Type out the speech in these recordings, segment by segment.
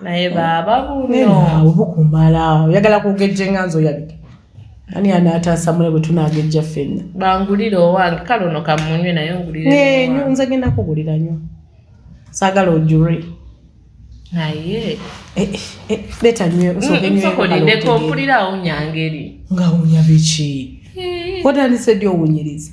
naye baaba buno bukumala oyagala kugejja enganzi oyabike ani anataasa mule bwe tunagejja ffenna bangulire owange kale ono kamunywe naye ngulirenyo nze genda kugulira nyo saagala ojure naye eh, eh, eh, leta nyo nsokolideko mpulira awunya ngeri nga awunya biki watandise ddi owunyiriza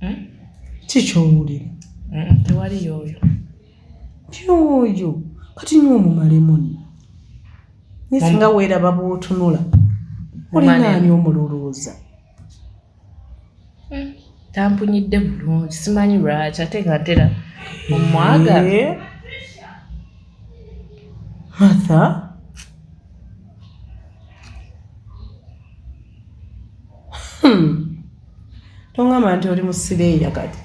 hmm? kikyowulira hmm, tewali yoyo yoyo kati nywa omumalemu nno nisinga weeraba bwotunula olinaani omululuuza hmm. tampunyidde bulungi simanyi lwaki ate nga ntera omwaga eh? matha Hmm. tongamba nti oli musireeya kati